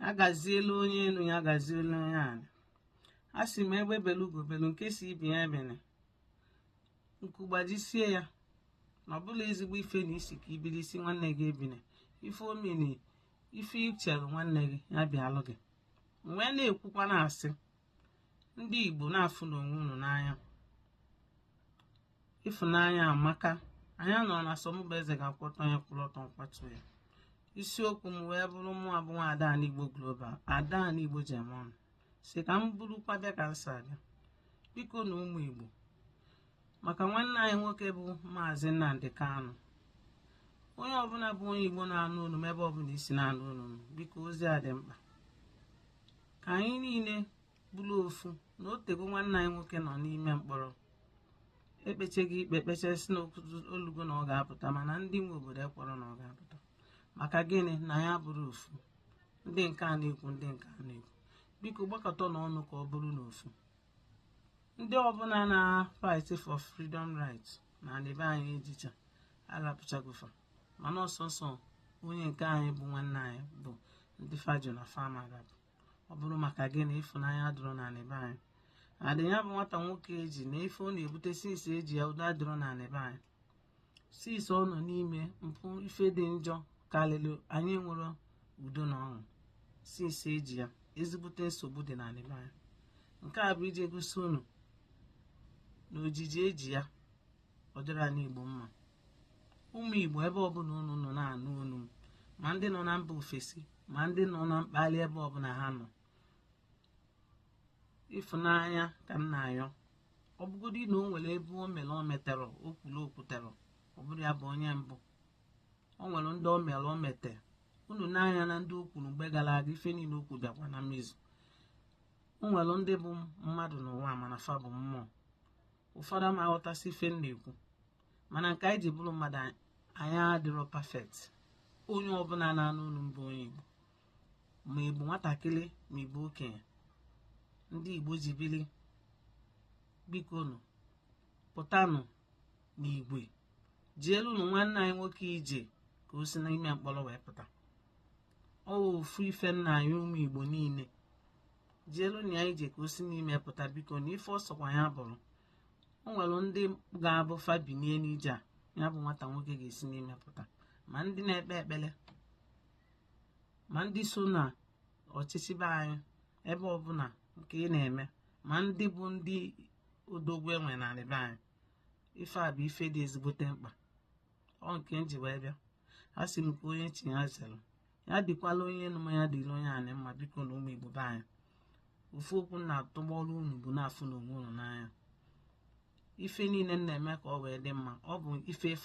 ya gazielu onye elu ya gazielu onye ala a sị m egbe belu ugo belu nke sị ibe ya ebene nku gbajisie ya na ọ bụrọ ezigbo ife na ị sị ka i bili ị sị nwanne gị ebine ife omini ife i chere nwanne gị ya bịalụ gị wee na-ekwukwa na-asị ndị Igbo na-afụnụ onwe unu n'anya ịfụnanya amaka anyị anọrọ na sọ mụ bụ eze ga-akwụ ọtọ onye kwụrụ ọtọ m kwatuo ya isiokwu m wee bụrụ mụwa bụ nwa ada ndị Igbo Global ada ndị Igbo German sị ka m burukwa bịa ka m si abịa bikonụ ụmụ Igbo maka nwanne anyị nwoke bụ maazị Nnamdi Kanu onye ọbụla bụ onye Igbo na-anụ olu m ebe ọbụla i si na-anụ olu m biko ozi a dị mkpa ka anyị niile bụrụ ofu na o tego nwanne anyị nwoke nọ n'ime mkpọrọ e kpechago ikpe e kpechaa sị na o lugo na ọ ga-apụta mana ndị nwe obodo ekwerọ na ọ ga-apụta maka gịnị na anyị abụrọ ofu ndị nke a na-ekwu ndị nke a na-ekwu biko gbakọtanụ ọnụ ka ọ bụrụ n'ofu ndị ọbụla na-fight for freedom rights na anị be anyị e jicha a rapụchago fa mana ọ sọsọ onye nke anyị bụ nwanne anyị bụ ndị fa jụ na fa ama arapụ ọ bụrụ maka gịnị ịfụnanya adịrọ na anị be anyị and ya bụ nwata nwoke e ji na ife ọ na-ebute since e ji ya udo adịrọ na anị be anyị since ọ nọ n'ime mpụ ife dị njọ karịrị anyị enwerọ udo na ọṅụ since e ji ya ezigbote nsogbu dị na anị be anyị nke a bụ iji gosi unu na ojiji e ji ya ọ dịrọ anị Igbo mma ụmụ Igbo ebe ọbụla unu nọ na-anụ olu m ma ndị nọ na mba ofesi ma ndị nọ na mkpali ebe ọbụla ha nọ ịfụnanya ka m na-ayọ ọ bụgodị na o nwere ebe o mere o meterọ o kwuru o kwuterọ ọ bụrọ ya bụ onye mbụ o nwere ndị o mere o mete unu n'anya na ndị o kwuru mgbe gara aga ife niile o kwu bịakwa na mmezu o nwere ndị bụ mmadụ n'ụwa mana fa bụ mmụọ ụfọdụ ama aghọtasị ife m na-ekwu mana nke anyị ji bụrụ mmadụ anyị adịrọ perfect onye ọbụla na-anụ olu m bụ onye Igbo ma ị bụ nwatakịrị ma ị bụ okenye ndị Igbo ji biri bikonu pụtanụ n'igwe jeelunụ nwanne anyị nwoke ije ka o si n'ime mkpọrọ wee pụta ọ ofu ife m na-ayọ ụmụ Igbo niile jeelunụ ya ije ka o si n'ime pụta bikonụ ife ọ sọkwa ya bụrụ o nwere ndị ga-abụ fa binie n'ije a ya bụ nwata nwoke ga-esi n'ime pụta ma ndị na-ekpe ekpere ma ndị so na ọchịchị be anyị ebe ọbụla nke ị na-eme ma ndị bụ ndị odogwu e nwe na be anyị ife a bụ ife dị ezigbote mkpa ọ nke m ji wee bịa asị m ka onye chie ya zere ya dịkwala onye enu mma ya dịlị onye anị mma bikonụ ụmụ igbo be anyị ofu okwu m na-atụgbọrụ unu bụ na-afụnụ onwe unu n'anya ife niile m na-eme ka ọ wee dị mma ọ bụ ife efe